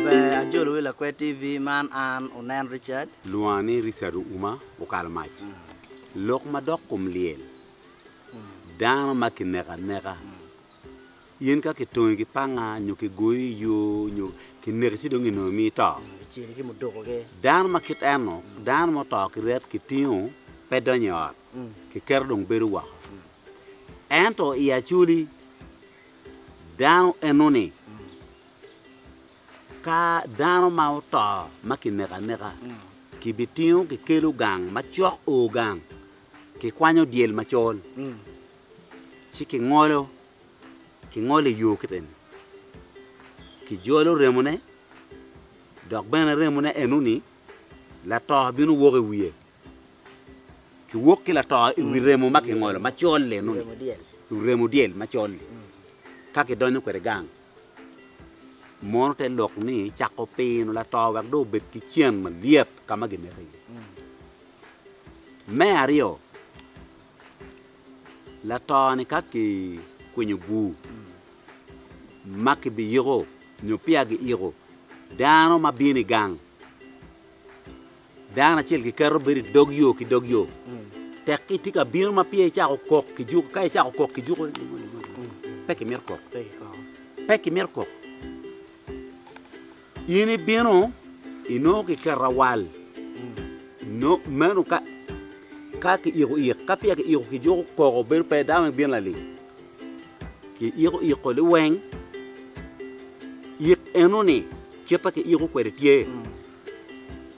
Ber ajolo wi Lakwed TV man an Unen Richard. Lwonga ni Richard Ouma okalo mac. Lok madok kom lyel. Dano ma kineko aneka. In ka kitongi ki panga nyo kigoyi i yo nyo kineki ci dong inongo imiyo ito? Dano ma kit eno, dano ma oto ki ryet kitingo pe donyo i ot, kiketo dong bedo woko. Ento i Acoli, dano enoni ka dano ma oto ma kineko aneka kibitingo kikelo gang macok o gang kikwanyo dyel macol ci kingolo kingolo i yo ki remo, kijolo remone, dok bene remone eno-ni lato bino wok i wiye. Kiwok ki lato i wi remo ma kingolo macol-li eno-ni, i wi remo dyel macol-li, ka kidonyo kwede gang. Mono te lok ni cako pino lato wek dong obed ki cen malyet ka ma gineke iye. Me aryo, Lato-ni ka kikwinyo bur ma kibiyiko nyo peya giyiko, dano ma bino i gang, dano acel kiketo bedo i dog yo ki dog yo. Tek itye ka bino ma peya icako kok ki juko, ka icako kok ki juko, pe kimito kok, pe kimito kok. In ibino, inongo kiketo awal, meno ka ka kiiko ik, ka peya kiiko kijuko koko bedo pe dano ibino lalim. Kiiko iko liweng, ik enoni kite kiiko kwede tye.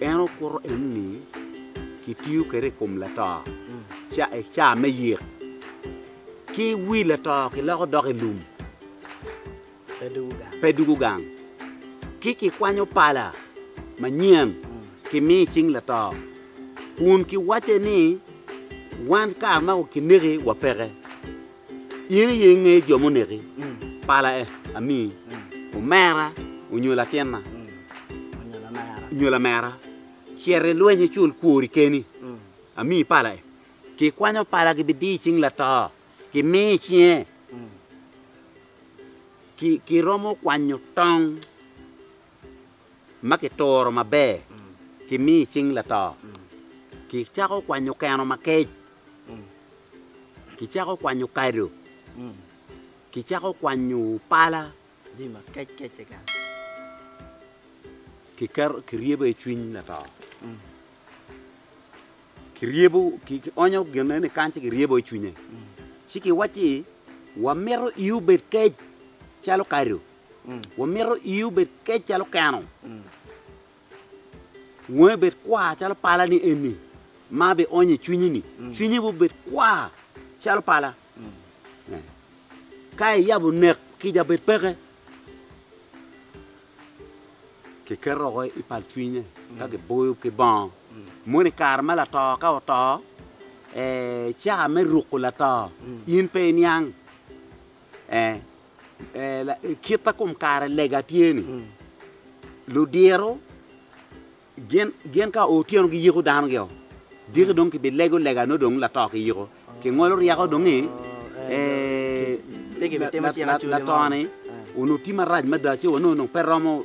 En okuto enoni kitiyo kwede i kom lato i cawa me yik. Ki wi lato kiloko dok i lum pe dugo gang. Ki kikwanyo pala manyen kimiyo i cing lato kun kiwacce ni wan kare ma kineki wapeke. In aye ingeyo jo muneki, pala e, amiyi, omera onyo latinna, onyo lamera, cit i lweny icul kwori keni, amiyi pala e. Kikwanyo pala gibidiyo i cing lato, kimiyo i cinge, kiromo kwanyo tong. ma kituro maber kimi i cing lato, kicako kwanyo keno makec, kicako kwanyo kado, kicako kwanyo pala, kiketo kiryebo i cwiny lato, kiryebo kionyo gine ni kany ci kiryebo i cwinye ci kiwacci wamito i obed kec calo kado. Wamito ii obed kec calo keno, wongi obed kwar calo palani eni ma abionyo i cwinyi-ni, cwinyi bene obed kwar calo pala. Ka iyabo nek kica bed peke, kiketo oko i palcwinye ka kiboyo ki bongo. Moni kare ma lato ka oto, caa me ruko lato in pe iniang. Ee, ee, la- i kit ma kom kare lega tye-ni, ludiro gin gin ka oo otyeno giyiko danogi-o, diki dong kibilego lega nongo dong lato kiyiko, kingolo ryeko dongi, ee, Pe kibitimo la- cik la- acuc-ci mo. lato-ni onongo tye marac mada ci wa nongo dong pe romo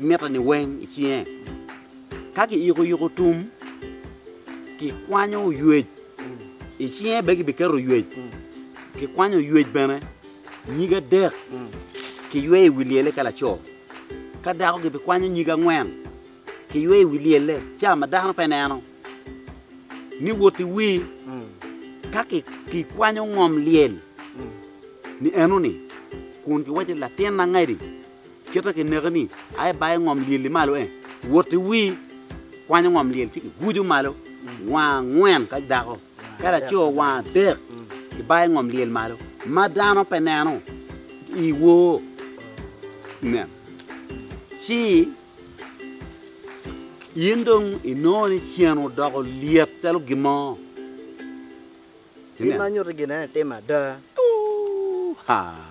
miteni weng i cinge. Ka kiyikoyiko tum, kikwanyo oywec i cinge, bene kibiketo oywec, kikwanyo oywec bene nyige adek, kiyweyo i wi lyelle ka laco. Ka dako kibikwanyo nyige angwen, kiyweyo i wi lyelle, ca ma dano pe neno, ni woti wir. Ka kikwanyo ngom lyel ni enoni, kun kiwaco ni, Latin angadi, Kite ki neke ni, a i bayo ngom lyel-li malo en, wot i wii, kwanyo ngom lyel ci ki gujo malo wang angwen ka dako, ka laco wang adek ki bayo ngom lyel malo, ma dano pe neno i woo. Nen, ci in dong i nongo ni cen odoko lyet calo gin mo. Cen ma nyuto gin en etimme ada. Ooh, haa.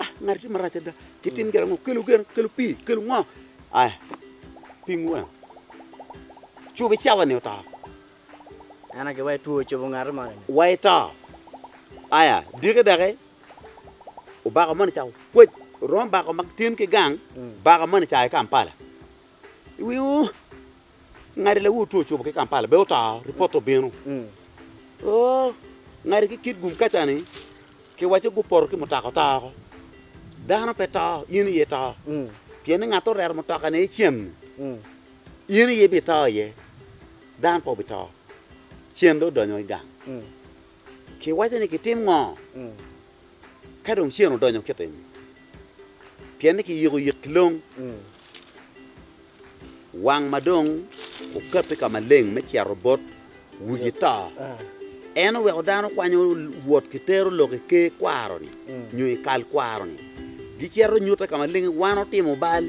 Ah, ngati tye marac ada. Kitim gin ango? Kelu gin, kelu pii, kelu ngo? Aya, pingu weng. Cobi cawa-ni oto. En agi wa itwo cobo ngati moni ni. Wa ito. Aya, diki doki, obako moni ca okwec, oromo bako ma tin ki gang, bako moni ca i Kampala. Iwingo? Ngati lawu two ocubo ki Kampala bene oto, ripot obino. Oo, ngati ki kit gum kaca ni kiwaco gupoto ki mutoka oto oko. Dano pe to, in aye ito. Pien ni ngat oreto mutoka ne cen ni, in aye ibito iye, dano pe obito. Cen dong odonyo i gang. Kiwaco ni kitim ngo? Ka dong ceng odonyo kitim, pien ni kiyiko yik ki long, wang ma dong okabbe ka maleng me cito bot wigi to. En oweko dano kwanyo wot ki tero lok i ker kwaro-ni nyo i kal kwaro-ni, gicito nyutte ka maleng ni wan otimo bal.